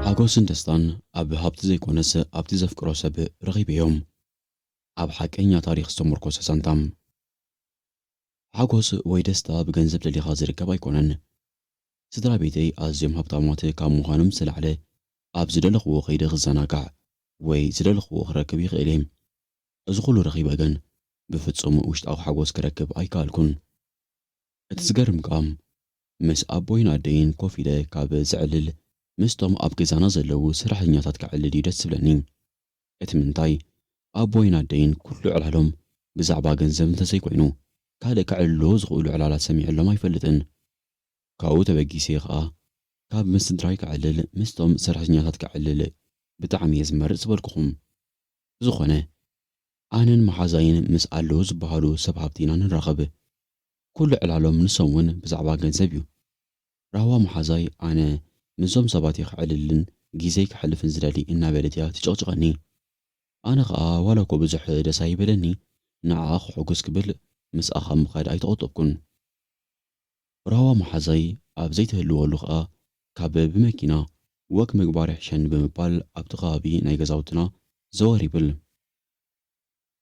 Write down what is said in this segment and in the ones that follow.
ሓጎስን ደስታን ኣብ ሃብቲ ዘይኮነስ ኣብቲ ዘፍቅሮ ሰብ ረኺበዮ። ኣብ ሓቀኛ ታሪኽ ዝተሞርኮሰ ዛንታ። ሓጎስ ወይ ደስታ ብገንዘብ ደሊኻ ዝርከብ ኣይኮነን። ስድራቤተይ ኣዝዮም ሃብታማት ካብ ምዃኖም ዝተላዕለ፣ ኣብ ዝደለኽዎ ከይደ ክዘናጋዕ ወይ ዝደለኽዎ ክረክብ ይኽእል እየ። እዚ ኹሉ ረኺበ ግን ብፍጹም ውሽጣዊ ሓጎስ ክረክብ ኣይከኣልኩን። እቲ ዝገርም ከኣ ምስ ኣቦይን ኣደይን ኮፍ ኢለ ካብ ዘዕልል ምስቶም ኣብ ገዛና ዘለዉ ሰራሕተኛታት ከዕልል እዩ ደስ ዝብለኒ። እቲ ምንታይ ኣቦይን ኣደይን ኩሉ ዕላሎም ብዛዕባ ገንዘብ እንተዘይኮይኑ ካልእ ከዕልልዎ ዝኽእሉ ዕላላት ሰሚዐሎም ኣይፈልጥን። ካብኡ ተበጊሰ ከኣ ካብ ምስ ስድራይ ከዕልል ምስቶም ሰራሕተኛታት ከዕልል ብጣዕሚ እየ ዝመርጽ ዝበልኩኹም። ብዝኾነ ኣነን መሓዛይን ምስ ኣለዉ ዝበሃሉ ሰብ ሃብቲ ኢና ንራኸብ። ኩሉ ዕላሎም ንሶም ውን ብዛዕባ ገንዘብ እዩ። ራህዋ መሓዛይ ኣነ ምስዞም ሰባት እየ ከዕልልን ጊዘይ ከሕልፍን ዝደሊ እናበለት እያ ትጭቕጭቐኒ። ኣነ ከኣ ዋላኮ ብዙሕ ደስ ኣይበለኒ ንዓኣ ከሕጉስ ክብል ምስኣ ካብ ምኻድ ኣይተቖጠብኩን። ራህዋ መሓዛይ ኣብ ዘይትህልወሉ ከኣ ካብ ብመኪና ወክ ምግባር ይሕሸኒ ብምባል ኣብቲ ከባቢ ናይ ገዛውትና ዘወር ይብል።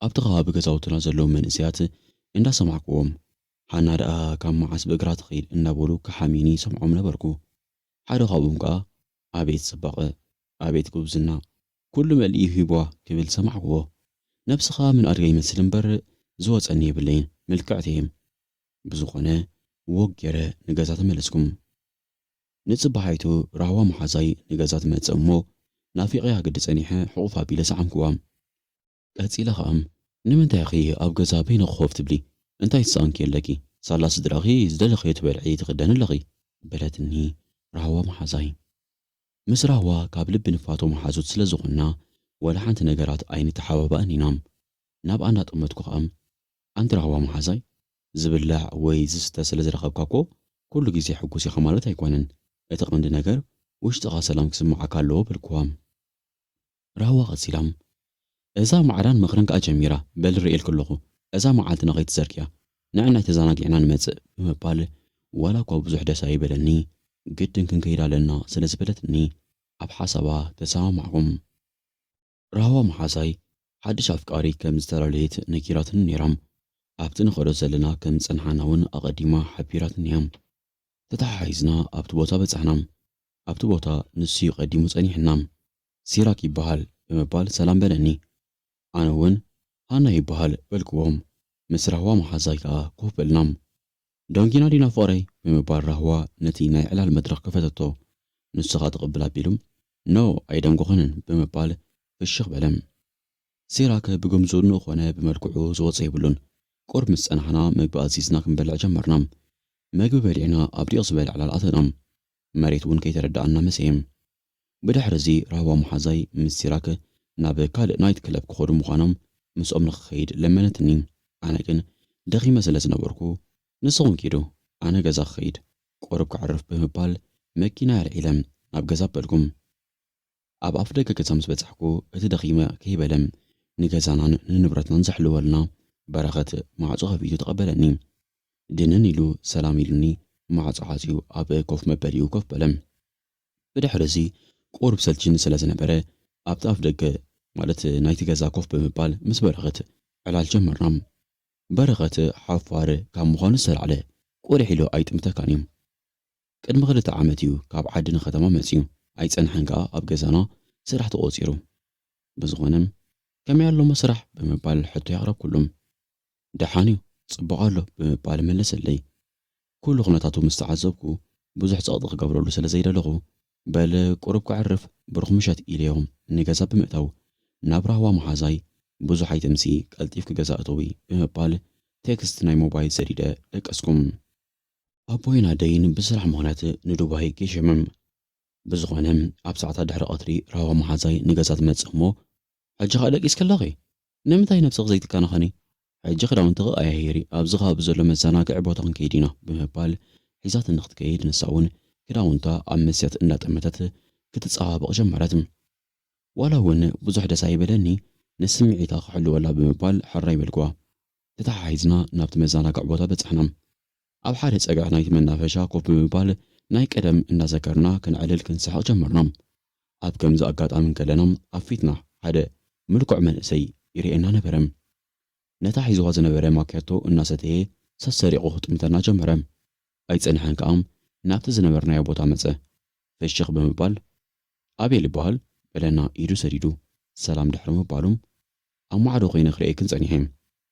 ኣብቲ ከባቢ ገዛውትና ዘለዉ መንእሰያት እንዳሰማዕኩዎም ሃና ደኣ ካብ መዓስ ብእግራ ትኸይድ እንዳበሉ ክሓምዩኒ ይሰምዖም ነበርኩ። ሓደ ካብኦም ከኣ ኣቤት ጽባቐ! ኣቤት ጉብዝና! ኩሉ መሊኡ ሂቡዋ ክብል ሰማዕኩዎ። ነብስኻ ምን ኣድጋ ይመስል እምበር ዝወጸኒ የብለይን ምልክዕቲ እየ። ብዝኾነ ዎግ ጌረ ንገዛ ተመለስኩም። ንጽባሒቱ ራህዋ መሓዛይ ንገዛ ትመጽእ እሞ ናፊቐያ ግዲ ጸኒሐ ሕቑፍ ኣቢለ ሰዓምክዋ። ቀጺለ ከኣ ንምንታይ ኢኺ ኣብ ገዛ በይንኺ ኮፍ ትብሊ እንታይ ትሰኣንኪ ኣለኪ ሳላ ስድራኺ ዝደለኽዮ ትበልዒ ትኽደኒ ኣለኺ በለትኒ ራህዋ መሓዛይ። ምስ ራህዋ ካብ ልቢ ንፋቶ መሓዙት ስለ ዝኾንና ዋላ ሓንቲ ነገራት ኣይንተሓባባእን ኢና። ናብኣ እናጠመትኩ ከኣ ኣንቲ ራህዋ መሓዛይ፣ ዝብላዕ ወይ ዝስተ ስለ ዝረኸብካ እኮ ኩሉ ግዜ ሕጉስ ኢኻ ማለት ኣይኮነን። እቲ ቀንዲ ነገር ውሽጥኻ ሰላም ክስምዓካ ኣለዎ በልክዋ። ራህዋ ቀጺላ፣ እዛ ማዕዳን ምኽርን ከኣ ጀሚራ፣ በሊ ርእየልኪ ኣለኹ፣ እዛ መዓልትና ከይትዘርግያ፣ ንዕናይ ተዛናጊዕና ንመጽእ ብምባል ዋላኳ ብዙሕ ደስ ኣይበለኒ ግድን ክንከይድ ኣለና ስለ ዝበለትኒ ኣብ ሓሳባ ተሰማማዕኩ። ራህዋ መሓዛይ ሓድሽ ኣፍቃሪ ከም ዝተላለየት ነጊራትኒ ነይራ። ኣብቲ ንኸዶ ዘለና ከም ዝጸንሓና'ውን ኣቐዲማ ሓቢራትኒ'ያ። ተተሓሒዝና ኣብቲ ቦታ በጻሕና። ኣብቲ ቦታ ንሱ'ዩ ቀዲሙ ጸኒሑና። ሲራክ ይበሃል ብምባል ሰላም በለኒ። ኣነ'ውን ሃና ይበሃል በልክዎ። ምስ ራህዋ መሓዛይ ከኣ ኮፍ በልና። ዳንኪና ዲና ፍቕረይ ብምባል ራህዋ ነቲ ናይ ዕላል መድረኽ ከፈተቶ። ንሱኻ ትቕብል ኣቢሉ No ኣይደንጎኸንን ብምባል ፍሽኽ በለ። ሲራክ ብግምዝኡኑ ኾነ ብመልክዑ ዝወጾ የብሉን። ቁሩብ ምስ ጸናሕና መግቢ ኣዚዝና ክንበልዕ ጀመርና። መግቢ በሊዕና ኣብ ዲቕ ዝበለ ዕላል ኣተና። መሬት ውን ከይተረደኣና መሰየ። ብድሕሪ'ዚ ራህዋ መሓዛይ ምስ ሲራክ ናብ ካልእ ናይት ክለብ ክኸዱ ምዃኖም ምስኦም ንኽኸይድ ለመነትኒ። ኣነ ግን ደኺመ ስለ ዝነበርኩ ንስኹም ኪዱ ኣነ ገዛ ክኸይድ ቁሩብ ከዕርፍ ብምባል መኪናይ ኣልዒለ ናብ ገዛ ኣበልኩም። ኣብ ኣፍደገ ገዛ ምስ በጻሕኩ እቲ ደኺመ ከይበለ ንገዛናን ንንብረትናን ዘሕልወልና በረኸት ማዕጾ ከፊቱ ተቐበለኒ። ድንን ኢሉ ሰላም ኢሉኒ ማዕጾ ዓጽዩ ኣብ ኮፍ መበሊኡ ኮፍ በለ። ብድሕርዚ ቁሩብ ሰልቺኒ ስለ ዝነበረ፣ ኣብቲ ኣፍ ደገ ማለት ናይቲ ገዛ ኮፍ ብምባል ምስ በረኸት ዕላል ጀመርና። በረኸት ሓፋር ካብ ምዃኑ ዝተላዕለ፣ ቁሊሕ ኢሉ ኣይጥምተካን እዩ። ቅድሚ ክልተ ዓመት እዩ ካብ ዓዲ ንከተማ መጺኡ፣ ኣይጸንሐን ከኣ ኣብ ገዛና ስራሕ ተቖጺሩ። ብዝኾነ ከመይ ኣሎ'ሞ ስራሕ? ብምባል ሕቶይ ኣቕረብኩሉ። ደሓን እዩ፣ ጽቡቕ ኣሎ ብምባል መለሰለይ። ኩሉ ኩነታቱ ምስ ተዓዘብኩ፣ ብዙሕ ጸቕጢ ክገብረሉ ስለ ዘይደለኹ፣ በል ቁሩብ ከዕርፍ ብሩኽ ምሸት ኢለዮ ንገዛ ብምእታው፣ ናብ ራህዋ መሓዛይ ብዙሕ ኣይተምሲ ቀልጢፍኪ ገዛ እተዊ ብምባል ቴክስት ናይ ሞባይል ሰዲደ ደቀስኩ። ኣቦይን ኣደይን ብስራሕ ምኽንያት ንዱባይ ገሾምም። ብዝኾነ ኣብ ሰዓታት ድሕሪ ቀትሪ ራህዋ መሓዛይ ንገዛ ትመጽእ እሞ ሕጂ ከኣ ደቂስኪ ኣለኺ ንምንታይ ነብስኺ ዘይትከናኸኒ? ሕጂ ክዳውንትኺ ቀያይሪ ኣብዚ ከባቢ ዘሎ መዘናግዒ ቦታ ክንከይድ ኢና ብምባል ሒዛትኒ ክትከይድ ንሳ ውን ክዳውንታ ኣብ መስትያት እንዳጠመተት ክትጸባበቕ ጀመረት። ዋላ ውን ብዙሕ ደስ ኣይበለኒ ንስምዒታ ክሕልወላ ብምባል ሕራይ በልክዋ። ተተሓሒዝና ናብቲ መዘናግዒ ቦታ በጻሕና። ኣብ ሓደ ጸግዒ ናይቲ መናፈሻ ኮፍ ብምባል ናይ ቀደም እንዳዘከርና ከነዕልል ክንስሕቕ ጀመርና። ኣብ ከምዚ ኣጋጣሚ እንከለና ኣብ ፊትና ሓደ ምልኩዕ መንእሰይ ይርኤና ነበረ። ነታ ሒዝዋ ዝነበረ ማክያቶ እናሰተየ ሰሰሪቑ ክጥምተና ጀመረ። ኣይጸንሐን ከኣ ናብቲ ዝነበርናዮ ቦታ መጸ። ፍሽኽ ብምባል ኣቤል ይበሃል በለና ኢዱ ሰዲዱ ሰላም ድሕሪ ምባሉ። ኣብ ማዕዶ ኮይነ ክርእየክን ጸኒሐ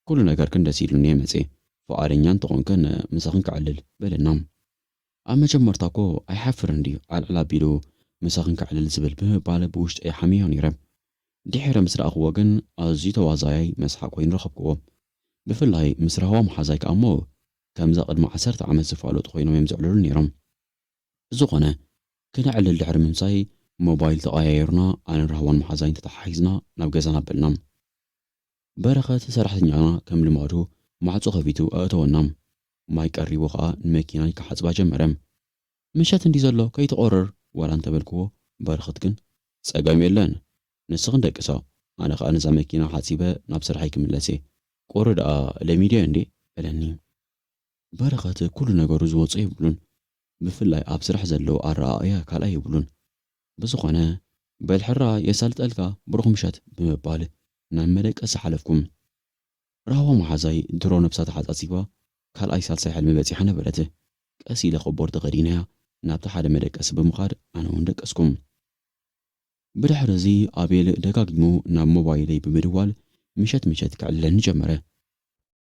ኩሉ ነገርክን ደስ ኢሉኒ እየ መጽየ ፍቓደኛ እንተኾንክን ምሳኽን ከዕልል በለና ኣብ መጀመርታ እኮ ኣይሓፍርን ድዩ ዓልዕል ኣቢሉ ምሳኽን ከዕልል ዝብል ብምባል ብውሽጠይ ሓምየዮ ነይረ ድሒረ ምስ ረኣኽዎ ግን ኣዝዩ ተዋዛያይ መስሓቕ ኮይኑ ረኸብክዎ ብፍላይ ምስ ራህዋ መሓዛይ ከኣ እሞ ከምዛ ቅድሚ ዓሰርተ ዓመት ዝፋለጡ ኮይኖም እዮም ዘዕልሉኒ ነይሮም ብዝኾነ ክነዕልል ድሕሪ ምምጻይ ሞባይል ተቐያይርና ኣነን ራህዋን መሓዛይን ተተሓሒዝና ናብ ገዛና ኣበልና። በረኸት ሰራሕተኛና ከም ልማዱ ማዕጾ ከፊቱ ኣእተወና። ማይ ቀሪቡ ከኣ ንመኪናይ ክሓጽባ ጀመረ። ምሸት እንድዩ ዘሎ ከይትቖርር ዋላ እንተበልክዎ በረኸት ግን። ጸገም የለን ንስኽን ደቅሳ ኣነ ከኣ ነዛ መኪና ሓጺበ ናብ ስርሐይ ክምለስ'የ። ቁሪ ደኣ ለሚደዮ እንድየ በለኒ። በረኸት ኩሉ ነገሩ ዝወጾ የብሉን ብፍላይ ኣብ ስራሕ ዘለዎ ኣረኣእያ ካልኣይ የብሉን ብዝኾነ በል ሕራይ የሳልጠልካ ብሩኽ ምሸት ብምባል ናብ መደቀሲ ሓለፍኩ ራህዋ መሓዛይ ድሮ ነብሳ ተሓጻጺባ ካልኣይ ሳልሳይ ሕልሚ በጺሓ ነበረት ቀስ ኢለ ኮቦርት ተኸዲነያ ናብቲ ሓደ መደቀሲ ብምኻድ ኣነ ውን ደቀስኩ ብድሕሪ እዚ ኣቤል ደጋጊሙ ናብ ሞባይለይ ብምድዋል ምሸት ምሸት ከዕልለኒ ጀመረ።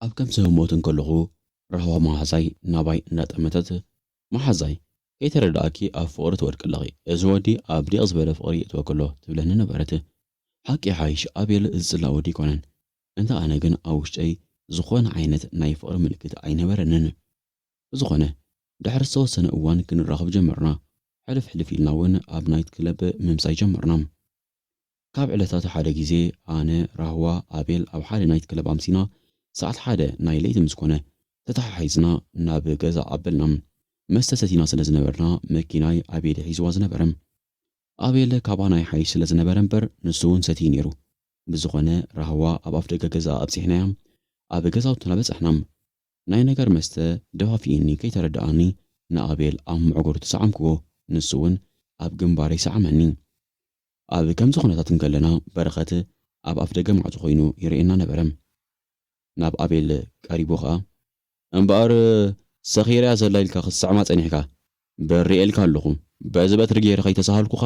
ኣብ ከምዚ ህሞት እንከለኹ ራህዋ መሃዛይ ናባይ እንዳጠመተት መሓዛይ ከይተረደኣኪ ኣብ ፍቕሪ ትወድቂ ኣለኺ እዚ ወዲ ኣብ ዲቕ ዝበለ ፍቕሪ የእትወኪ ኣሎ ትብለኒ ነበረት ሓቂ ይሓይሽ ኣቤል ዝጽላእ ወዲ ኣይኮነን እንተ ኣነ ግን ኣብ ውሽጠይ ዝኾነ ዓይነት ናይ ፍቕሪ ምልክት ኣይነበረንን ብዝኾነ ድሕሪ ዝተወሰነ እዋን ክንራኸብ ጀመርና ሕልፍ ሕልፍ ኢልና ውን ኣብ ናይት ክለብ ምምጻይ ጀመርና። ካብ ዕለታት ሓደ ግዜ ኣነ፣ ራህዋ፣ ኣቤል ኣብ ሓደ ናይት ክለብ ኣምሲና ሰዓት ሓደ ናይ ለይቲ ምስ ኮነ ተተሓሒዝና ናብ ገዛ ኣበልና። መስተ ሰቲና ስለ ዝነበርና መኪናይ ኣቤል እዩ ሒዝዋ ዝነበረ። ኣቤል ካባና ይሓይሽ ስለ ዝነበረ እምበር ንሱ ውን ሰትዩ ኔሩ። ብዝኾነ ራህዋ ኣብ ኣፍደገ ገዝኣ ኣብጺሕናያ ኣብ ገዛውትና በጸሕና። ናይ ነገር መስተ ደፋፊኡኒ ከይተረደኣኒ ንኣቤል ኣብ መዕጎርቱ ሰዓምክዎ ንሱ ውን ኣብ ግንባረይ ሰዓመኒ። ኣብ ከምዚ ዅነታት እንከለና፣ በረኸት ኣብ ኣፍደገ ማዕጾ ዀይኑ ይርእየና ነበረ። ናብ ኣቤል ቀሪቡ ኸኣ። እምበኣር ሰኺረ እያ ዘላ ኢልካ ኽትስዕማ ጸኒሕካ፣ በሪ ርእየልካ ኣሎኹ። በዚ በትሪ ገይረ ኸይተሳሃልኩኻ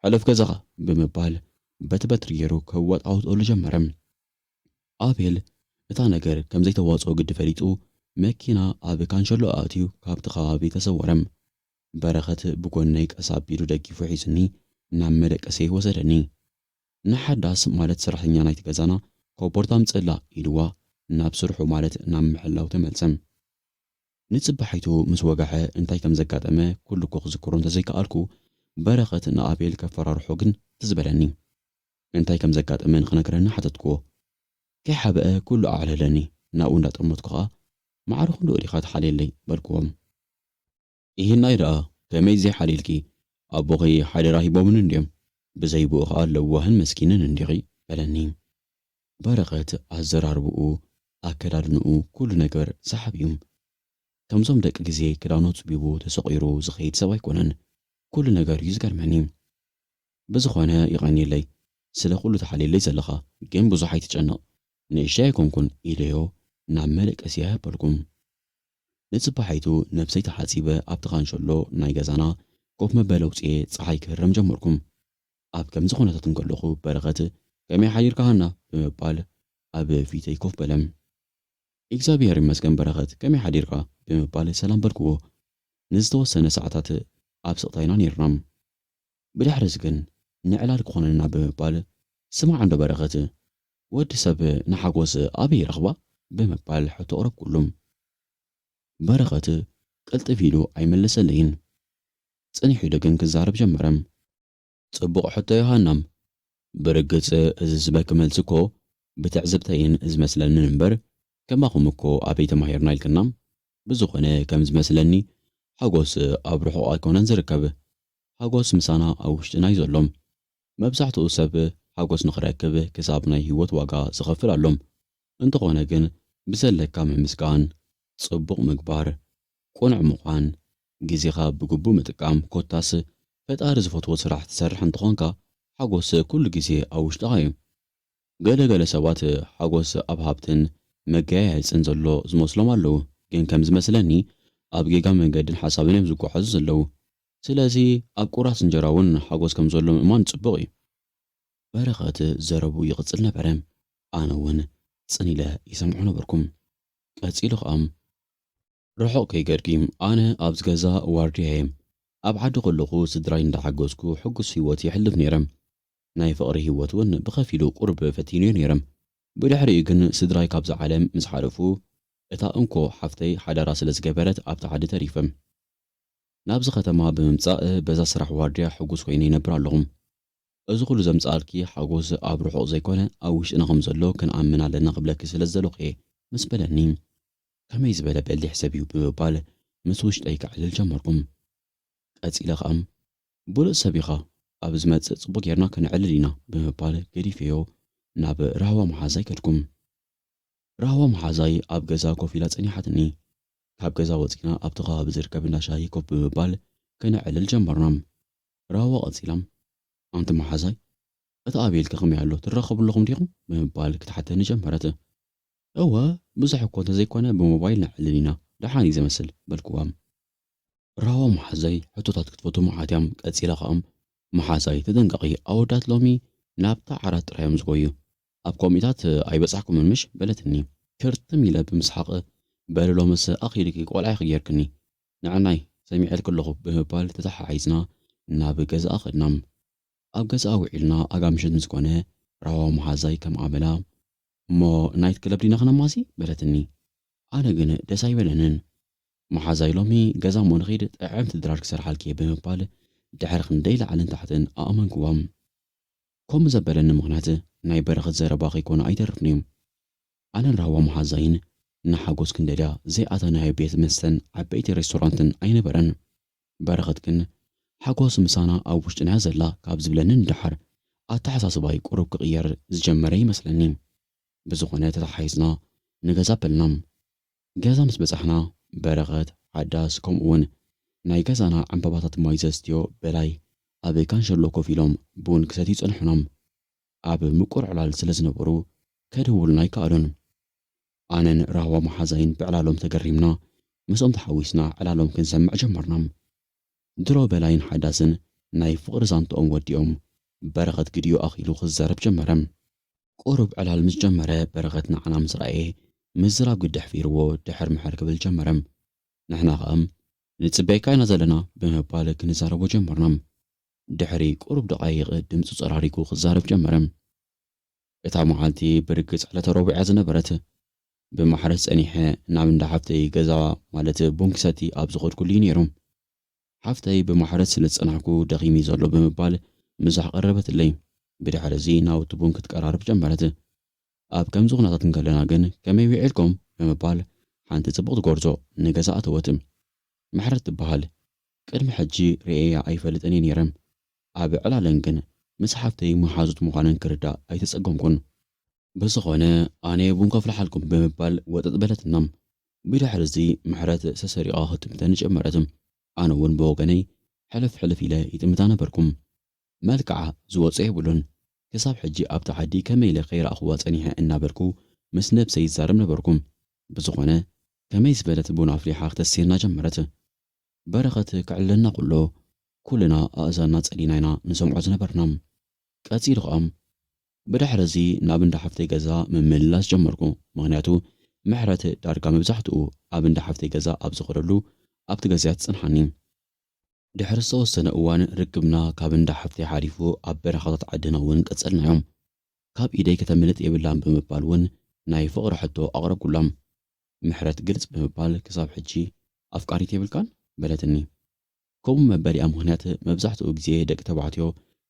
ሕለፍ ገዛኻ፣ ብምባል በቲ በትሪ ገይሩ ከዋጣውጠሉ ጀመረ። ኣቤል እታ ነገር ከም ዘይተዋጽኦ ግዲ ፈሊጡ፣ መኪና ኣብ ካንሸሎኣ ኣእትዩ ካብቲ ኸባቢ ተሰወረ። በረኸት ብጎነይ ቀስ ኣቢሉ ደጊፉ ሒዙኒ ናብ መደቀሲየይ ወሰደኒ። ንሓዳስ ማለት ሰራሕተኛ ናይቲ ገዛና ኮቦርታ ኣምጽእላ ኢልዋ ናብ ስርሑ ማለት ናብ ምሕላው ተመልሰ። ንጽባሒቱ ምስ ወግሐ እንታይ ከም ዘጋጠመ ኩሉ'ኮ ክዝክሮ እንተዘይከኣልኩ በረኸት ንኣቤል ከፈራርሖ ግን ትዝ በለኒ። እንታይ ከም ዘጋጠመ ንኽነግረኒ ሓተትክዎ። ከይሓበአ ኩሉ ኣዕለለኒ ናብኡ እንዳጠመትኩ ከኣ ማዕረ ክንድኡ ዲኻ ትሓልየለይ በልክዎም። ይህናይ ደኣ ከመይ ዘይሓልየልኪ ኣቦኺ ሓደራ ሂቦምኒ እንድዮም ብዘይብኡ ከኣ ለዋህን መስኪንን እንዲኺ በለኒ። በረኸት ኣዘራርብኡ ኣከዳድንኡ ኩሉ ነገር ሰሓቢ እዩ ከምዞም ደቂ ግዜ ክዳኑ ኣጽቢቡ ተሰቑሩ ዝኸይድ ሰብ ኣይኮነን ኩሉ ነገሩ እዩ ዝገርመኒ ብዝኾነ የቐንየለይ ስለ ኩሉ ትሓልየለይ ዘለኻ ግን ብዙሕ ኣይትጨነቕ ንእሽተይ ኣይኮንኩን ኢለዮ ናብ መደቀሲ ኣበልኩ። ንጽባሒቱ ነብሰይ ተሓጺበ ኣብቲ ካንሸሎ ናይ ገዛና ኮፍ መበሊ ኣውጺኤ ጸሓይ ክህረም ጀመርኩ። ኣብ ከምዚ ኩነታት እንከለኹ በረኸት ከመይ ሓዲርካ ሃና ብምባል ኣብ ፊተይ ኮፍ በለ። ኢግዛብሄር ይመስገን በረኸት ከመይ ሓዲርካ ብምባል ሰላም በልክዎ። ንዝተወሰነ ሰዓታት ኣብ ስቕታ ኢና ኔርና። ብድሕሪ'ዚ ግን ንዕላል ክኾነና ብምባል ስማዕ እንዶ በረኸት፣ ወዲ ሰብ ንሓጎስ ኣበይ ይረኽባ? ብምባል ሕቶ ኣቕረብኩሉ። በረኸት ቅልጥፍ ኢሉ ኣይመለሰለይን። ጽኒሑ ደግን ክዛረብ ጀመረ። ጽቡቕ ሕቶ ዮሃና! ብርግጽ እዚ ዝበኪ መልሲ እኮ ብትዕዝብተይን ዝመስለንን እምበር ከማኹም እኮ ኣበይ ተማሂርና ኢልክና? ብዝኾነ ከም ዝመስለኒ ሓጎስ ኣብ ርሑቕ ኣይኮነን ዝርከብ። ሓጎስ ምሳና ኣብ ውሽጥና እዩ ዘሎ። መብዛሕትኡ ሰብ ሓጎስ ንኽረክብ ክሳብ ናይ ህይወት ዋጋ ዝኸፍል ኣሎ። እንተኾነ ግን ብዘለካ ምምስጋን፣ ጽቡቕ ምግባር፣ ቅኑዕ ምዃን፣ ግዜኻ ብግቡእ ምጥቃም ኮታስ ፈጣሪ ዝፈትዎ ስራሕ ትሰርሕ እንተኾንካ ሓጎስ ኩሉ ግዜ ኣብ ውሽጥኻ እዩ። ገለ ገለ ሰባት ሓጎስ ኣብ ሃብትን መገያየጽን ዘሎ ዝመስሎም ኣለዉ ግን ከም ዝመስለኒ ኣብ ጌጋ መንገድን ሓሳብን እዮም ዝጓዓዙ ዘለዉ። ስለዚ ኣብ ቁራስ እንጀራ ውን ሓጎስ ከም ዘሎ ምእማን ጽቡቕ እዩ። በረኸት ዘረብኡ ይቕጽል ነበረ። ኣነ ውን ጽን ኢለ ይሰምዖ ነበርኩ። ቀጺሉ ከኣ። ርሑቕ ከይከድኪ፣ ኣነ ኣብዚ ገዛ ዋርድያ እየ። ኣብ ዓዲ ከለኹ ስድራይ እንዳ ሓገዝኩ ሕጉስ ሂወት የሕልፍ ኔረ። ናይ ፍቕሪ ሂወት ውን ብኸፊሉ ቁሩብ ፈቲነዮ ኔረ። ብድሕሪኡ ግን ስድራይ ካብዛ ዓለም ምስ ሓለፉ እታ እንኮ ሓፍተይ ሓዳራ ስለ ዝገበረት ኣብቲ ዓዲ ተሪፈ። ናብዚ ከተማ ብምምጻእ በዛ ስራሕ ዋርድያ ሕጉስ ኮይነ ይነብር ኣለኹ። እዚ ኩሉ ዘምጽኣልኪ ሓጎስ ኣብ ርሑቕ ዘይኮነ ኣብ ውሽጥና ከም ዘሎ ክንኣምን ኣለና ክብለኪ ስለ ዝደለኹ'የ ምስ በለኒ ከመይ ዝበለ በሊሕ ሰብ'ዩ ብምባል ምስ ውሽጠይ ከዕልል ጀመርኩ። ቀጺለ ከኣ ብሉጽ ሰብ ኢኻ ኣብ ዝመጽእ ጽቡቕ ጌርና ከነዕልል ኢና ብምባል ገዲፈዮ ናብ ራህዋ መሓዛይ ከድኩ። ራህዋ መሓዛይ ኣብ ገዛ ኮፍ ኢላ ጸኒሓትኒ። ካብ ገዛ ወጺእና ኣብቲ ከባቢ ዝርከብ እንዳ ሻሂ ኮፍ ብምባል ከነዕልል ጀመርና። ራህዋ ቀጺላ። ኣንቲ መሓዛይ፣ እቲ ኣቤልኪ ከመይ ኣሎ? ትራኸቡ ኣለኹም ዲኹም? ብምባል ክትሓተኒ ጀመረት። እወ፣ ብዙሕ እኮ እንተዘይኮነ ብሞባይል ነዕልል ኢና፣ ደሓን እዩ ዘመስል። በልክዋ። ራህዋ መሓዛይ ሕቶታት ክትፈቱ መዓት እያ። ቀጺላ ከኣ፣ መሓዛይ ተጠንቀቒ፣ ኣወዳት ሎሚ ናብታ ዓራት ጥራይ እዮም ዝጎዩ። ኣብ ኮሚታት ኣይበጻሕኩምን ምሽ በለትኒ ክርትም ኢለ ብምስሓቕ በሊ ሎምስ ኣኺሉኪ ቆልዓ ኢኺ ጌርክኒ ንዕናይ ሰሚዐልኪ ኣለኹ ብምባል ተተሓሒዝና ናብ ገዛኣ ከድና ኣብ ገዛኣ ውዒልና ኣጋ ምሸት ምስ ኮነ ራህዋ መሓዛይ ከም ኣመላ እሞ ናይት ክለብ ዲና ክነማሲ በለትኒ ኣነ ግን ደስ ኣይበለንን መሓዛይ ሎሚ ገዛ እሞ ንኺድ ጥዕምቲ ድራር ክሰርሓልኪ እየ ብምባል ድሕሪ ክንደይ ላዕልን ታሕትን ኣእመንክዋ። ከምኡ ዘበለኒ ምኽንያት ናይ በረኸት ዘረባ ከይኮነ ኣይተርፍን'ዩ። ኣነን ራህዋ መሓዛይን ንሓጎስ ክንደልያ ዘይኣተናዮ ቤት መስተን ዓበይቲ ሬስቶራንትን ኣይነበረን። በረኸት ግን ሓጎስ ምሳና ኣብ ውሽጥና'ያ ዘላ ካብ ዝብለኒ ንደሓር ኣተሓሳስባይ ቁሩብ ክቕየር ዝጀመረ ይመስለኒ። ብዝኾነ ተተሓሒዝና ንገዛ በልና። ገዛ ምስ በጻሕና በረኸት፣ ሓዳስ፣ ከምኡ'ውን ናይ ገዛና ዕምባባታት ማይ ዘስትዮ በላይ ኣብ ካንሸሎ ኮፍ ኢሎም ቡን ክሰትዩ ጸንሑናም። ኣብ ምቁር ዕላል ስለ ዝነበሩ ከድህቡልና ኣይከኣሉን። ኣነን ራህዋ መሓዛይን ብዕላሎም ተገሪምና ምስኦም ተሓዊስና ዕላሎም ክንሰምዕ ጀመርናም። ድሮ በላይን ሓዳስን ናይ ፍቕሪ ዛንትኦም ወዲኦም፣ በረኸት ግዲኡ ኣኺሉ ክዛረብ ጀመረ። ቁሩብ ዕላል ምስ ጀመረ በረኸት ንዓና ምስ ረኣየ ምዝራብ ግዲ ኣሕፊርዎ ድሕር ምሕር ክብል ጀመረ። ንሕና ከኣ። ንጽበየካ ኢና ዘለና ብምባል ክንዛረቦ ጀመርና። ድሕሪ ቁሩብ ደቓይቕ ድምጹ ጸራሪጉ ክዛረብ ጀመረ። እታ መዓልቲ ብርግጽ ዕለተ ረቡዕ እያ ዝነበረት። ብማሕረስ ጸኒሐ ናብ እንዳ ሓፍተይ ገዛ ማለት ቡን ክሰቲ ኣብ ዝኸድኩሉ እዩ ነይሩ። ሓፍተይ ብማሕረስ ስለ ዝጸናሕኩ ደኺሙ'ዩ ዘሎ ብምባል ምሳሕ ቀረበትለይ። ብድሕሪ'ዚ ናውቲ ቡን ክትቀራርብ ጀመረት። ኣብ ከምዚ ኩነታት እንከለና ግን ከመይ ዊዒልኩም? ብምባል ሓንቲ ጽብቕቲ ጎርዞ ንገዛ ኣተወት። ምሕረት ትበሃል። ቅድሚ ሕጂ ርእየያ ኣይፈልጥን እየ ነይረ። ኣብ ዕላለንግ ግን ምስ ሓፍተይ መሓዙት ምዃነን ክርዳእ ኣይተጸገምኩን። ብዝኾነ ኣነ ቡን ከፍልሓልኩም ብምባል ወጠጥ በለትና። ብድሕርዚ ምሕረት ሰሰሪቓ ክትጥምተኒ ጀመረት። ኣነውን ብወገነይ ሕልፍ ሕልፍ ኢለ ይጥምታ ነበርኩ። መልክዓ ዝወጾ የብሉን። ክሳብ ሕጂ ኣብቲ ዓዲ ከመይ ኢለ ከይረኣኹዋ ጸኒሐ እናበልኩ ምስ ነብሰይ ይዛረብ ነበርኩ። ብዝኾነ ከመይ ዝበለት ቡን ኣፍሊሓ ክተስየና ጀመረት። በረኸት ክዕለና ከሎ ኩልና ኣእዛንና ጸሊና ኢና ንሰምዖ ዝነበርና። ቀጺሉ ከኣ ብድሕሪ እዚ ናብ እንዳ ሓፍተይ ገዛ ምምልላስ ጀመርኩ ምኽንያቱ ምሕረት ዳርጋ መብዛሕትኡ ኣብ እንዳ ሓፍተይ ገዛ ኣብ ዝኸደሉ ኣብቲ ገዛ'ያ ትጸንሓኒ። ድሕሪ ዝተወሰነ እዋን ርክብና ካብ እንዳ ሓፍተይ ሓሊፉ ኣብ በረኻታት ዓድና እውን ቀጸልናዮ። ካብ ኢደይ ከተምልጥ የብላን ብምባል እውን ናይ ፍቕሪ ሕቶ ኣቕረብኩላ። ምሕረት ግልጽ ብምባል ክሳብ ሕጂ ኣፍቃሪት የብልካን? በለትኒ። ከምኡ መበሊኣ ምኽንያት መብዛሕትኡ ግዜ ደቂ ተባዕትዮ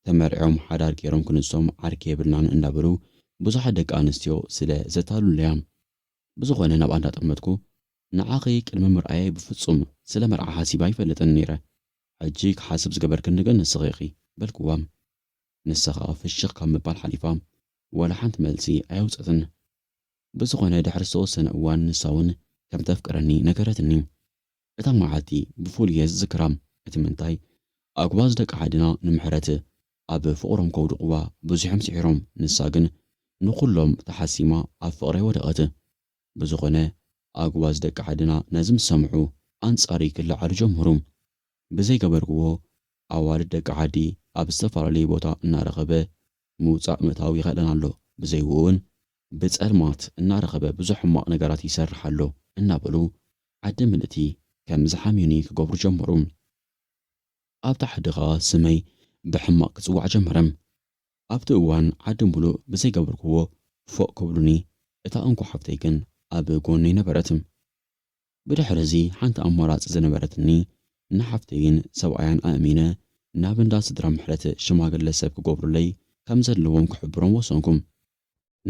ተመርዕዮም ሓዳር ገይሮም ክንሶም ዓርኪ የብልናን እንዳበሉ ብዙሓት ደቂ ኣንስትዮ ስለ ዘታልሉ'ያ። ብዝኾነ ናብኣ እንዳጠመትኩ ንዓኺ ቅድሚ ምርኣየይ ብፍጹም ስለ መርዓ ሓሲበ ኣይፈልጥን ነይረ። ሕጂ ክሓስብ ዝገበርክኒ ግን ንስኺ ኢኺ። በልክዋ። ንሳ ከኣ ፍሽኽ ካብ ምባል ሓሊፋ ዋላ ሓንቲ መልሲ ኣየውጸትን። ብዝኾነ ድሕሪ ዝተወሰነ እዋን ንሳውን ከምተፍቅረኒ ነገረትኒ። እታ መዓልቲ ብፍሉይ እየ ዝዝክራ እቲ ምንታይ ኣጉባዝ ደቂ ዓድና ንምሕረት ኣብ ፍቕሮም ከውድቕዋ ብዙሕም ስዒሮም ንሳ ግን ንኹሎም ተሓሲማ ኣብ ፍቕረይ ወደቐት። ብዝኾነ ኣጉባዝ ደቂ ዓድና ነዚ ምስ ሰምዑ ኣንጻርይ ክለዓሉ ጀመሩ። ብዘይገበርክዎ ኣዋልድ ደቂ ዓዲ ኣብ ዝተፈላለየ ቦታ እናረኸበ ምውጻእ ምእታው ይኸእለን ኣሎ፣ ብዘይኡ እውን ብጸልማት እናረኸበ ብዙሕ ሕማቕ ነገራት ይሰርሕ ኣሎ እናበሉ ዓዲ ምልእቲ ከም ዝሓምዩኒ ክገብሩ ጀመሩ። ኣብ ታሕዲ ኸኣ ስመይ ብሕማቕ ክጽዋዕ ጀመረ። ኣብቲ እዋን ዓዲ ምሉእ ብዘይገበርክዎ ፎእ ክብሉኒ እታ እንኮ ሓብተይ ግን ኣብ ጎነይ ነበረት። ብድሕር'ዚ ሓንቲ ኣማራጺ ዝነበረትኒ ንሓፍተይን ሰብኣያን ኣእሚነ ናብ እንዳ ስድራ ምሕረት ሽማግለ ሰብ ክገብሩለይ ከም ዘለዎም ክሕብሮም ወሰንኩ።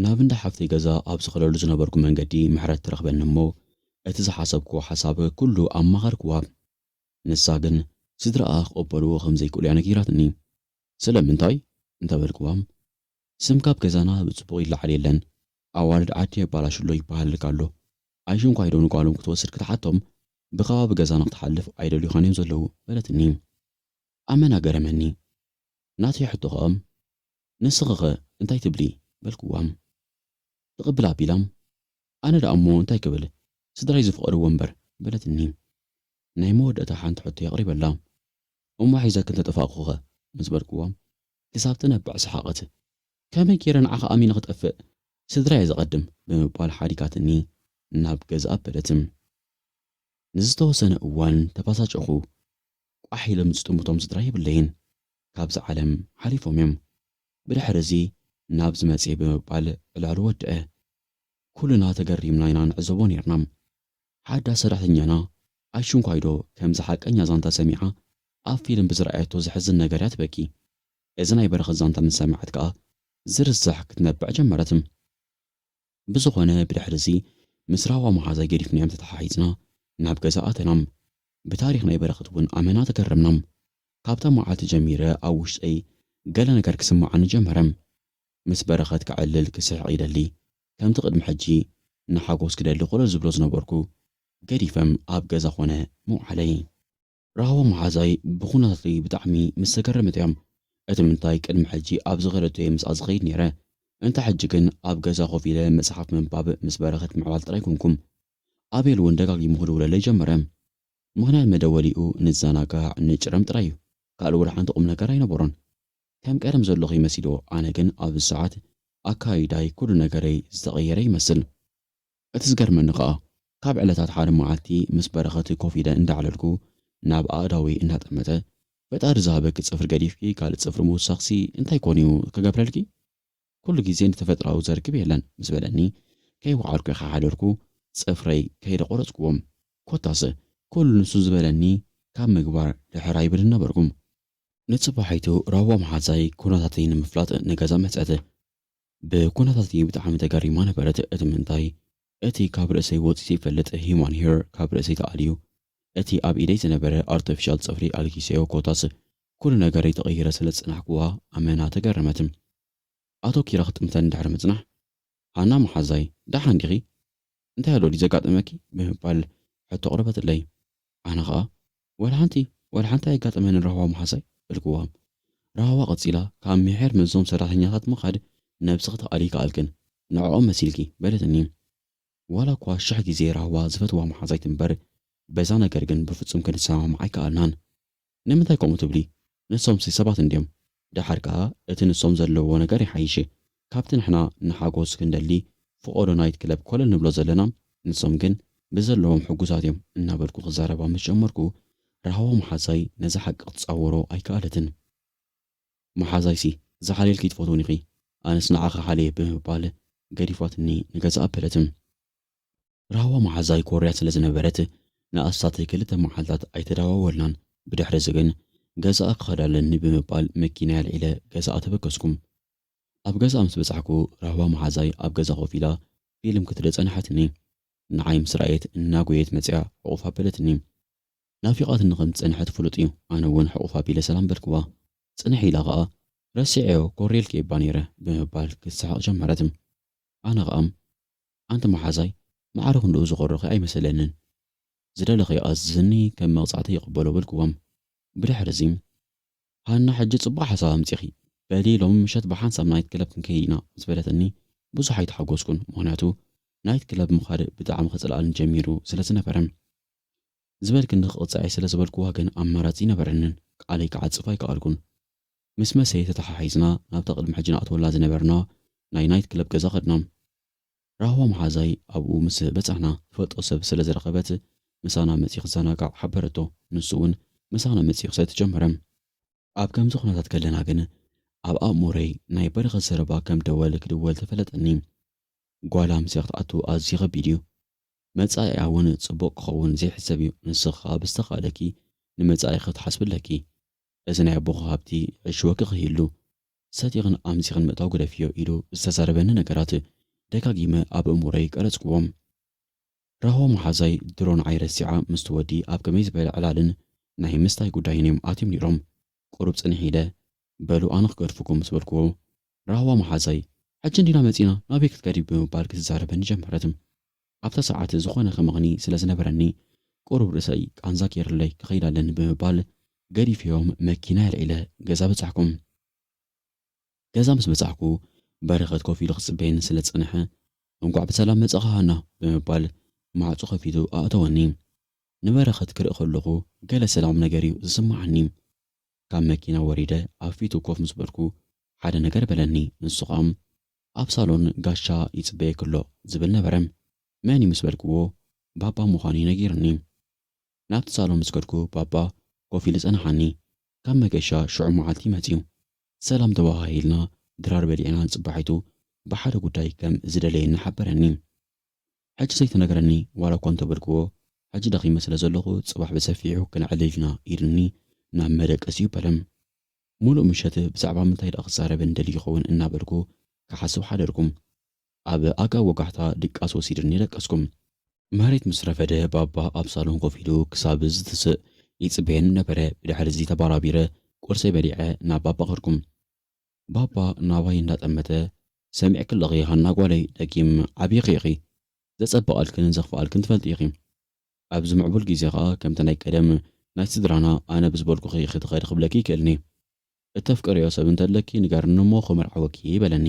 ናብ እንዳ ሓፍተይ ገዛ ኣብ ዝኸደሉ ዝነበርኩ መንገዲ ምሕረት ትረኽበኒ'ሞ እቲ ዝሓሰብክዎ ሓሳብ ኩሉ ኣማኸርክዋ። ንሳ ግን ስድራኣ ክቕበልዎ ከም ዘይክእሉ'ያ ነጊራትኒ። ስለምንታይ? እንተበልክዋ ስም ካብ ገዛና ብጽቡቕ ይለዓል የለን። ኣዋልድ ዓዲ የባላሹ ኣሎ ይበሃልልካ ኣሎ። ኣይሽንኳይ ዶ ንጓሎም ክትወስድ ክትሓቶም ብከባቢ ገዛና ክትሓልፍ ኣይደልዩኻን እዮም ዘለዉ በለትኒ። ኣመና ገረመኒ። ናተይ ሕቶ ከኦም ንስኺኸ እንታይ ትብሊ በልክዋ። ትቕብል ኣቢላ ኣነ ደኣ እሞ እንታይ ክብል ስድራይ ዝፍቐድዎ እምበር በለትኒ። ናይ መወደእታ ሓንቲ ሕቶ የቕሪበላ እሞ ሒዘክን ተጠፋእኩኸ ምስ በልክዋ ክሳብ ትነብዕ ሰሓቐት። ከመይ ገይረ ንዓኻ ኣሚነ ክጠፍእ፣ ስድራየ ዘቐድም ብምባል ሓዲጋትኒ ናብ ገዝኣ ኣበለት። ንዝተወሰነ እዋን ተበሳጨኹ። ቋሕ ኢሎም ዝጥምቶም ስድራ የብለይን፣ ካብዛ ዓለም ሓሊፎም'ዮም። ብድሕሪ'ዚ ናብ ዝመጽእ ብምባል ዕላሉ ወደኣ። ኩልና ተገሪምና ኢና ንዕዘቦ ኔርና። ሓዳ ሰራሕተኛና ኣሽንኳይዶ ከምዚ ሓቀኛ ዛንታ ሰሚዓ ኣብ ፊልም ብዝረኣየቶ ዘሕዝን ነገር'ያ ትበኪ። እዚ ናይ በረኸት ዛንታ ምስ ሰምዐት ከኣ ዝርሳሕ ክትነብዕ ጀመረት። ብዝኾነ ብድሕሪ'ዚ ምስ ራህዋ መሓዛይ ገዲፍናዮም ተተሓሒዝና ናብ ገዛ ኣተና። ብታሪኽ ናይ በረኸት'ውን ኣመና ተገረምና። ካብታ መዓልቲ ጀሚረ ኣብ ውሽጠይ ገለ ነገር ክስመዓኒ ጀመረ። ምስ በረኸት ከዕልል ክስሕቕ ይደሊ ከምቲ ቅድሚ ሕጂ ንሓጎስ ክደሊ ኮለል ዝብሎ ዝነበርኩ ገዲፈም ኣብ ገዛ ኮነ ምውዓለይ። ራህዋ መሓዛይ ብኹነታተይ ብጣዕሚ ምስ ተገረመት እያ እቲ ምንታይ ቅድሚ ሕጂ ኣብ ዝኸደቶ እየ ምስኣ ዝኸይድ ኔረ እንተ ሕጂ ግን ኣብ ገዛ ኮፍ ኢለ መጽሓፍ ምንባብ ምስ በረኸት ምዕላል ጥራይ ኮንኩም ኣቤል ውን ደጋጊሙ ክድውለለይ ጀመረ ምኽንያት መደወሊኡ ንዘናጋዕ ንጭረም ጥራይ እዩ ካልእ ወላ ሓንቲ ቁምነገር ኣይነበሮን ከም ቀደም ዘለኹ ይመሲዶ ኣነ ግን ኣብዚ ሰዓት ኣካይዳይ ኩሉ ነገረይ ዝተቀየረ ይመስል እቲ ዝገርመኒ ከኣ ካብ ዕለታት ሓደ መዓልቲ ምስ በረኸት ኮፍ ኢለ እንዳዕለልኩ ናብ ኣእዳወይ እንዳጠመተ ፈጣሪ ዝሃበኪ ጽፍሪ ገዲፍኪ ካልእ ጽፍሪ ምውሳኽሲ እንታይ ኮን እዩ ክገብረልኪ ኩሉ ግዜ ንተፈጥራዊ ዘርክብ የለን ምስ በለኒ ከይወዓልኩ ከሓደርኩ ጽፍረይ ከይደ ቆረጽኩዎም ኮታስ ኩሉ ንሱ ዝበለኒ ካብ ምግባር ድሕር ኣይብልን ነበርኩ ንጽባሒቱ ራህዋ መሓዛይ ኩነታተይ ንምፍላጥ ንገዛ መጸት። ብኩነታተይ ብጣዕሚ ተገሪማ ነበረት እቲ ምንታይ እቲ ካብ ርእሰይ ወጺኡ ዘይፈልጥ ሂማን ሄር ካብ ርእሰይ ተኣልዩ እቲ ኣብ ኢደይ ዝነበረ ኣርተፊሻል ጽፍሪ ኣልጊሰዮ ኮታስ ኩሉ ነገረይ ተቐይረ ስለ ዝጸናሕኩዋ ኣመና ተገረመት ኣቶኪራ ክትጥምተኒ ድሕሪ ምጽናሕ ሃና መሓዛይ ደሓን ዲኺ? እንታይ ኣሎ ድዩ ዘጋጠመኪ? ብምባል ሕቶ ኣቕረበትለይ። ኣነ ኸኣ ወላ ሓንቲ ወላ ሓንቲ ኣየጋጠመንን ራህዋ መሓዛይ በልክዋ። ራህዋ ቀጺላ ካብ ምሒር ምስዞም ሰራሕተኛታት ምኻድ ነብስኺ ትኣልዪ ከኣልክን ንዕኦም መሲልኪ በለትኒ። ዋላ እኳ ሽሕ ግዜ ራህዋ ዝፈትዋ መሓዛይ ትንበር በዛ ነገር ግን ብፍጹም ክንሰማማዕ ኣይከኣልናን። ንምንታይ ከምኡ ትብሊ ንሶምሲ ሰባት እንድዮም ደሓር ከኣ እቲ ንሶም ዘለውዎ ነገር ይሓይሽ ካብቲ ንሕና ንሓጎስ ክንደሊ ፍቆዶ ናይት ክለብ ኮለል ንብሎ ዘለና ንሶም ግን ብዘለዎም ሕጉሳት እዮም እናበልኩ ክዛረባ ምስ ጀመርኩ ራህዋ መሓዛይ ነዚ ሓቂ ክትጻወሮ ኣይከኣለትን መሓዛይሲ ዝሓልየልኪ ትፈትውኒ ኢኺ ኣነስ ንዓኺ ሓልየ ብምባል ገዲፋትኒ ንገዝኣ ኣበለት። ራህዋ መሓዛይ ኮርያ ስለ ዝነበረት፣ ንኣስታት ክልተ መዓልታት ኣይተደዋወልናን። ብድሕሪ'ዚ ግን፣ ገዛኣ ክኸድ ኣለኒ ብምባል መኪናይ ኣልዒለ ገዛኣ ተበገስኩ። ኣብ ገዛኣ ምስ በጻሕኩ፣ ራህዋ መሓዛይ ኣብ ገዛ ኮፍ ኢላ ፊልም ክትርኢ ጸንሓትኒ። ንዓይ ምስ ረኣየት፣ እናጎየየት መጺኣ ሕቝፍ ኣበለትኒ። ናፊቓትኒ ከም ዝጸንሐት ፍሉጥ'ዩ፣ ኣነ እውን ሕቝፍ ኣቢለ ሰላም በልክዋ። ጽንሕ ኢላ ኸኣ፣ ረሲዐዮ ኮርየልኪ'የ'ባ ነይረ ብምባል ክትስሕቕ ጀመረት። ኣነ ኸኣ፣ ኣንቲ መሓዛይ ማዕረ ክንድኡ ዝኮረኹ ኣይመሰለንን ዝደለኽዮ ኣዝዝኒ ከም መቅጻዕቲ ይቅበሎ በልክዎም ብድሕርዚ ሃና ሕጂ ጽቡቅ ሓሳብ ኣምጺኺ በሊ ሎሚ ምሸት ብሓንሳብ ናይት ክለብ ክንከይድ ኢና ምስ በለትኒ ብዙሕ ኣይተሓጎስኩን ምክንያቱ ናይት ክለብ ምኻድ ብጣዕሚ ክጽልኣኒ ጀሚሩ ስለ ዝነበረ ዝበልክኒ ክቅጽዐይ ስለ ዝበልክዋ ግን ኣማራጺ ኣይነበረንን ቃለይ ክዓጽፍ ኣይከኣልኩን ምስ መሰየ ተተሓሒዝና ናብታ ቅድሚ ሕጂ ንኣትወላ ዝነበርና ናይ ናይት ክለብ ገዛ ከድና። ራህዋ መሓዛይ ኣብኡ ምስ በጻሕና ትፈልጦ ሰብ ስለ ዝረኸበት ምሳና መጺኡ ክዘናጋዕ ሓበረቶ። ንሱ እውን ምሳና መጺኡ ክሰቲ ጀመረ። ኣብ ከምዚ ኩነታት ከለና ግን ኣብ ኣእምሮይ ናይ በረኸት ዘረባ ከም ደወል ክድወል ተፈለጠኒ። ጓል ኣምስያ ክትኣቱ ኣዝዩ ከቢድ እዩ። መጻኢኣ እውን ጽቡቕ ክኸውን ዘይሕሰብ እዩ። ንስኺ ከኣ ብዝተኻእለኪ ንመጻኢኺ ክትሓስቢ ኣለኪ። እዚ ናይ ኣቦኹ ሃብቲ ሕጂ ወግእ ከይህሉ፣ ሰቲኽን ኣምሲኽን ምእታው ግደፍዮ ኢሉ ዝተዛረበኒ ነገራት ደጋጊመ ኣብ ኣእምሮይ ቀረጽኩዎም። ራሆ መሓዛይ ድሮ ንዓይ ረሲዓ ምስቲ ወዲ ኣብ ከመይ ዝበለ ዕላልን ናይ ምስታይ ጉዳይን እዮም ኣትዮም ነይሮም። ቁሩብ ጽንሕ ኢለ፣ በሉ ኣነ ክገድፈኩም ምስ በልኩዎ፣ ራህዋ መሓዛይ፣ ሕጂ እንዲና መጺእና ናበይ ክትከዲ ብምባል ክትዛረበኒ ጀመረት። ኣብታ ሰዓት ዝኾነ ክመኽኒ ስለ ዝነበረኒ ቁሩብ ርእሰይ ቃንዛ ገይርለይ ክኸይድ ኣለኒ ብምባል ገዲፈዮም መኪናይ ኣልዒለ ገዛ በጻሕኩ። ገዛ ምስ በጻሕኩ በረኸት ኮፍ ኢሉ ክጽበየኒ ስለ ዝጸንሐ እንቋዕ ብሰላም መጻኻ ሃና ብምባል ማዕጾ ከፊቱ ኣእተወኒ። ንበረኸት ክርኢ ከለኹ ገለ ሰላም ነገር'ዩ ዝስመዓኒ። ካብ መኪና ወሪደ ኣብ ፊቱ ኮፍ ምስ በልኩ ሓደ ነገር በለኒ ንሱ ከኣ ኣብ ሳሎን ጋሻ ይጽበየኪ ኣሎ ዝብል ነበረ መን እዩ ምስ በልክዎ ባባ ምዃኑ እዩ ነጊሩኒ ናብቲ ሳሎን ምስ ከድኩ ባባ ኮፍ ኢሉ ጸንሓኒ ካብ መገሻ ሽዑ መዓልቲ መጽዩ ሰላም ተበሃሂልና ድራር በሊዕና ጽባሒቱ ብሓደ ጉዳይ ከም ዝደለየኒ ሓበረኒ ሕጂ ዘይተነገረኒ ዋላ እኳ እንተበልክዎ ሕጂ ደኺመ ስለ ዘለኹ ጽባሕ ብሰፊሑ ክነዕልል ኢና ኢሉኒ ናብ መደቀሲኡ በለም። ምሉእ ምሸት ብዛዕባ ምንታይ ደኣ ክዛረበኒ ደልዩ ይኸውን እናበልኩ ክሓስብ ሓደርኩ። ኣብ ኣጋ ወጋሕታ ድቃስ ወሲዱኒ ደቀስኩም። መሬት ምስ ረፈደ ባባ ኣብ ሳሎን ኮፍ ኢሉ ክሳብ ዝትስእ ይጽበየኒ ነበረ። ብድሕሪ'ዚ ተባራቢረ ቁርሰይ በሊዐ ናብ ባባ ከድኩ። ባባ ናባይ እንዳጠመተ፣ ሰሚዕኪ ኣለኺ ሃና ጓለይ ደጊም ዓቢኺ ኢኺ፣ ዘጸበቐልክን ዘኽፈኣልክን ትፈልጢ ኢኺ። ኣብዚ ምዕቡል ግዜ ከኣ ከምቲ ናይ ቀደም ናይ ስድራና ኣነ ብዝበልኩኺ ኢኺ ትኸዲ ክብለኪ ይክእልኒ። እተፍቅርዮ ሰብ እንተለኪ ንገርኒ እሞ ክምርዓወኪ በለኒ።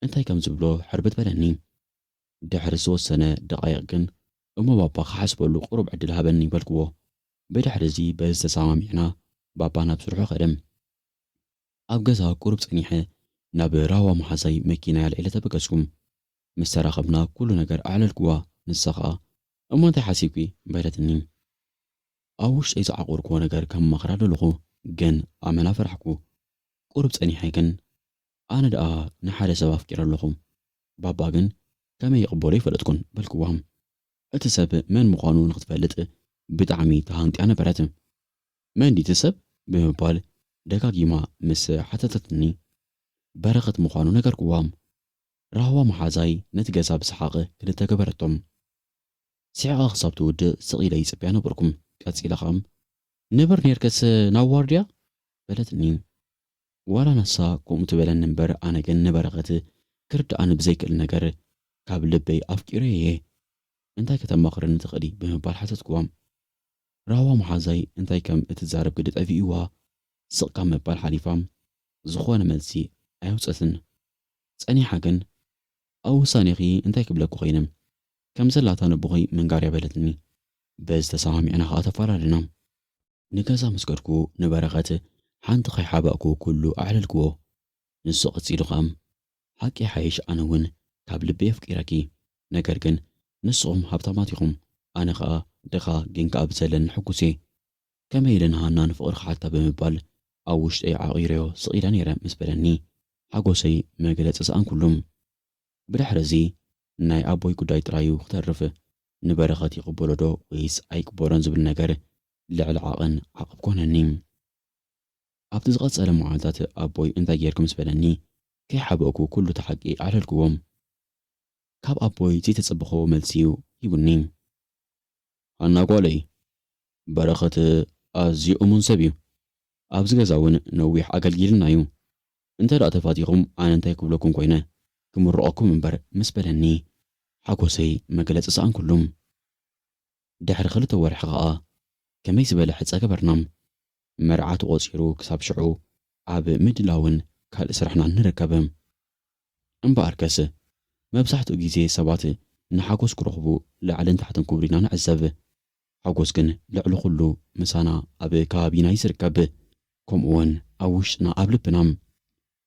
እንታይ ከም ዝብሎ ሕርብት በለኒ። ድሕሪ ዝወሰነ ደቓይቕ ግን እሞ ባባ ክሓስበሉ ቁሩብ ዕድል ሃበኒ በልክዎ። ብድሕሪ'ዚ በዚ ተሰማሚዕና ባባ ናብ ስርሑ ከደ። ኣብ ገዛ ቁሩብ ጸኒሐ ናብ ራህዋ መሓዛይ መኪናይ ኣልዒለ ተበገስኩ። ምስ ተራኸብና ኩሉ ነገር ኣዕለልኩዋ፣ ንሳ ኸኣ እሞ እንታይ ሓሲብኪ? በለትኒ። ኣብ ውሽጠይ ዝዓቖርኩዎ ነገር ከማኽራ ደለኹ ግን ኣመና ፈራሕኩ። ቁሩብ ጸኒሐ ግን ኣነ ደኣ ንሓደ ሰብ ኣፍቂረ ኣለኹ፣ ባባ ግን ከመይ ይቕበሎ ኣይፈለጥኩን፣ በልኩዋ። እቲ ሰብ መን ምዃኑ ንኽትፈልጥ ብጣዕሚ ተሃንጥያ ነበረት። መን ድዩ እቲ ሰብ? ብምባል ደጋጊማ ምስ ሓተተትኒ፣ በረኸት ምዃኑ ነገርኩዋ። ራህዋ መሓዛይ ነቲ ገዛ ብሰሓቕ ክልተ ገበረቶም። ስሒቓ ክሳብ ትውድእ ስቕ ኢለ ይጽበያ ነበርኩ። ቀጺላ ከኣ፣ ንብር ኔርከስ ናብ ዋርድያ? በለትኒ። ዋላ ንሳ ከምኡ ትበለኒ እምበር ኣነ ግን ንበረኸት ክርድኣኒ ብዘይክእል ነገር ካብ ልበይ ኣፍቂረዮ እየ። እንታይ ከተማኽርኒ ትኽእሊ? ብምባል ሓተትኩዋ። ራህዋ መሓዛይ እንታይ ከም እትዛረብ ግዲ ጠፊእዋ ስቕ ካብ ምባል ሓሊፋ ዝኾነ መልሲ ኣየውጸትን። ጸኒሓ ግን ኣብ ውሳኔኺ እንታይ ክብለኪ ኮይነ? ከም ዘላታ ነቦኺ ምንጋር'ያ በለትኒ። በዚ ተሰማሚዕና ከኣ ተፈላለና። ንገዛ ምስ ከድኩ ንበረኸት ሓንቲ ከይሓባእኩ ኩሉ ኣዕለልክዎ። ንሱ ቀጺሉ ከኣ ሓቂ ይሓይሽ ኣነ ውን ካብ ልበይ ኣፍቂረኪ ነገር ግን ንስኩም ሃብታማት ኢኩም ኣነ ከኣ ድኻ ግን ከኣ ብዘለኒ ሕጉስ እየ ከመይ ኢለ ንሃና ንፍቅሪ ክሓታ ብምባል ኣብ ውሽጠይ ዓቂረዮ ስቅ ኢለ ነይረ ምስ በለኒ ሓጎሰይ መግለጺ ሰኣንኩሉ ብድሕሪ እዚ ናይ ኣቦይ ጉዳይ ጥራይ እዩ ክተርፍ ንበረከት ይቅበሎ ዶ ወይስ ኣይቅበሎን ዝብል ነገር ልዕሊ ዓቀን ዓቅብ ኮነኒ። ኣብቲ ዝቐጸለ መዓልታት ኣቦይ እንታይ ጌርኪ ምስ በለኒ፣ ከይሓበእኩ ኩሉ እቲ ሓቂ ኣዕለልክዎ። ካብ ኣቦይ ዘይተጸበኽዎ መልሲ'ዩ ሂቡኒ። ሃና ጓለይ፣ በረኸት ኣዝዩ እሙን ሰብ'ዩ። ኣብዚ ገዛ'ውን ነዊሕ ኣገልጊሉና'ዩ። እንተድኣ ተፋቲኹም ኣነ እንታይ ክብለኩም ኮይነ፣ ክምርቖኩም እምበር ምስ በለኒ፣ ሓጎሰይ መግለጺ ሰኣንኩሉ። ድሕሪ ክልተ ወርሒ ከኣ ከመይ ዝበለ ሕጸ ገበርና። መርዓ ተቖጺሩ ክሳብ ሽዑ ኣብ ምድላውን ካልእ ስራሕናን ንርከብ። እምበኣርከስ መብዛሕትኡ ግዜ ሰባት ንሓጎስ ክረኽቡ ላዕልን ታሕትን ክብሉ ኢና ንዕዘብ። ሓጎስ ግን ልዕሊ ኩሉ ምሳና ኣብ ከባቢና እዩ ዝርከብ ከምኡውን ኣብ ውሽጥና ኣብ ልብና።